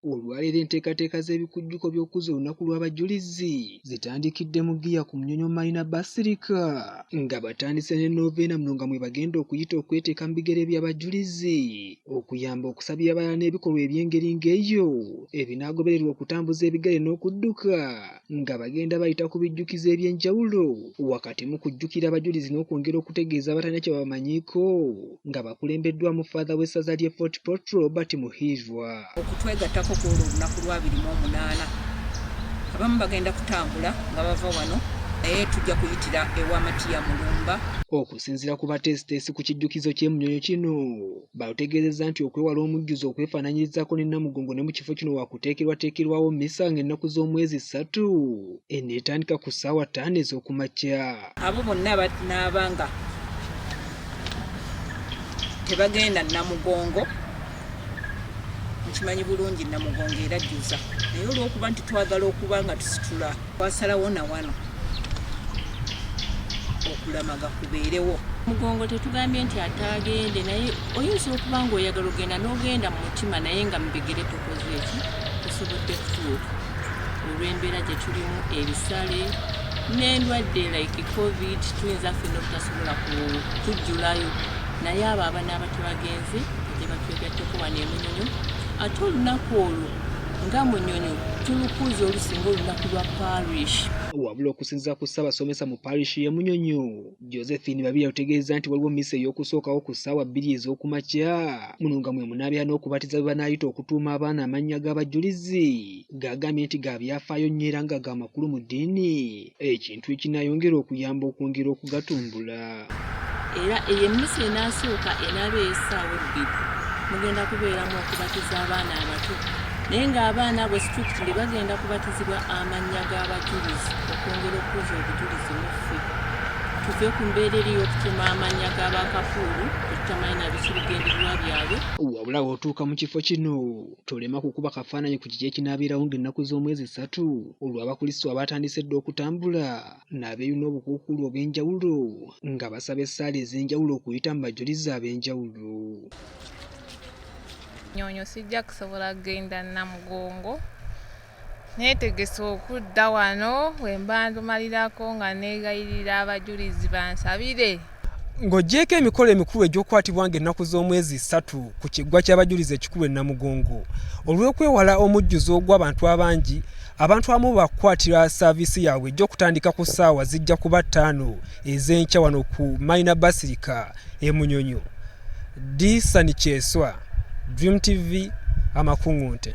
Olwaleero enteekateeka z'ebikujjuko by'okuzza olunaku lw'abajulizi zitandikidde mu ggiya ku Munyonyo Marina Basilica nga batandise ne Novena muno nga mwebagenda okuyita okweteeka mu bigere by'abajulizi okuyamba okusabira abalala n'ebikolwa eby'engeri ng'eyo ebinaagobererwa okutambuza ebigere n'okudduka nga bagenda bayita ku bijjukizo eby'enjawulo wakati mu kujjukira abajulizi n'okwongera okutegeeza abatalina kye babamanyiiko. nga bakulembeddwamu ffaadha w'essaza ly'e Fort Portal Robert Muhirwa. Okutwegattako ku olwo olunaku lw'abiri mu omunaana abamu bagenda kutambula nga bava wano naye tujja kuyitira ewa Matiya Mulumba. Okusinzira ku bateesiteesi ku kijjukizo ky'e Munyonyo kino baalutegeezezza nti okwewala omujjuzo okwefaananyirizaako ne Namugongo ne mu kifo kino waakuteekerwateekerwawo mmisa ng'ennaku z'omwezi ssatu eneetandika ku ssaawa ttaano ez'oku makya. abo bonna batnaaba nga tebagenda namugongo nkimanyi bulungi namugongo era jjuza naye olwokuba nti twagala okuba nga tusitula twasalawo na wano okulamaga kubeerewo mugongo tetugambye nti ataagende naye oyinza okuba nga oyagala ogenda n'ogenda mu mutima naye nga mubigere tokoze eki tosobodde kutuuka olw'embeera gye tulimu ebisale n'endwadde like covid tuyinza ffe nobutasobola kujjulayo naye abo abana abato bagenzi gye batwegatteko wano emunyonyo ate olunaku olwo nga munyonyo tulukuuza olusinga olunaku lwa parish wabula okusinziza ku ssabasomesa mu parish ye munyonyo Josephine Babirye alutegeezza nti waliwo mmisa ey'okusookawo ku ssaawa bbiri ez'oku makya muno nga mwe munaabera n'okubatiza bwe banaayita okutuuma abaana amannya g'abajjulizi g'agambye nti ga byafaayo nnyo era nga ga makulu mu ddiini ekintu ekinaayongera okuyamba okwongera okugatumbula. era eyo emmisa enaasooka enaaba ey'essaawa ebbiri mugenda kubeeramu okubatiza abaana abato naye ng'abaana abo situlikitiri bagenda kubatizibwa amannya g'abajjulizi okwongera okukuza obujulizi muffe. tuve ku mbeera eri y'okutema amannya ga bakafuulu tutamanyi na biki bigendererwa byabwe wabula w'otuuka mu kifo kino tolema kukuba kafaananyi ku kiki ekinaabeerawo ng'ennaku z'omwezi ssatu olw'abakulisitu abaatandise dda okutambula n'abeeyuna obukuukuulu obw'enjawulo nga basaba essaala ez'enjawulo okuyita mu bajulizi ab'enjawulo nyoonyo sijja kusobola kugenda namugongo Neetegese okudda wano we mba ndumalirako nga neegayirira abajulizi bansabire. Ng'oggyeeko emikolo emikulu egy'okukwatibwa ng'ennaku z'omwezi ssatu ku kiggwa ky'abajulizi ekikulu e Namugongo, olw'okwewala omujjuzo ogw'abantu abangi, abantu abamu baakukwatira saaviisi yaabwe ejja okutandika ku ssaawa zijja kuba ttaano ez'enkya wano ku Mayina Basirika e Munyonyo. Disani Kyeswa, Dream TV, Amakungunte.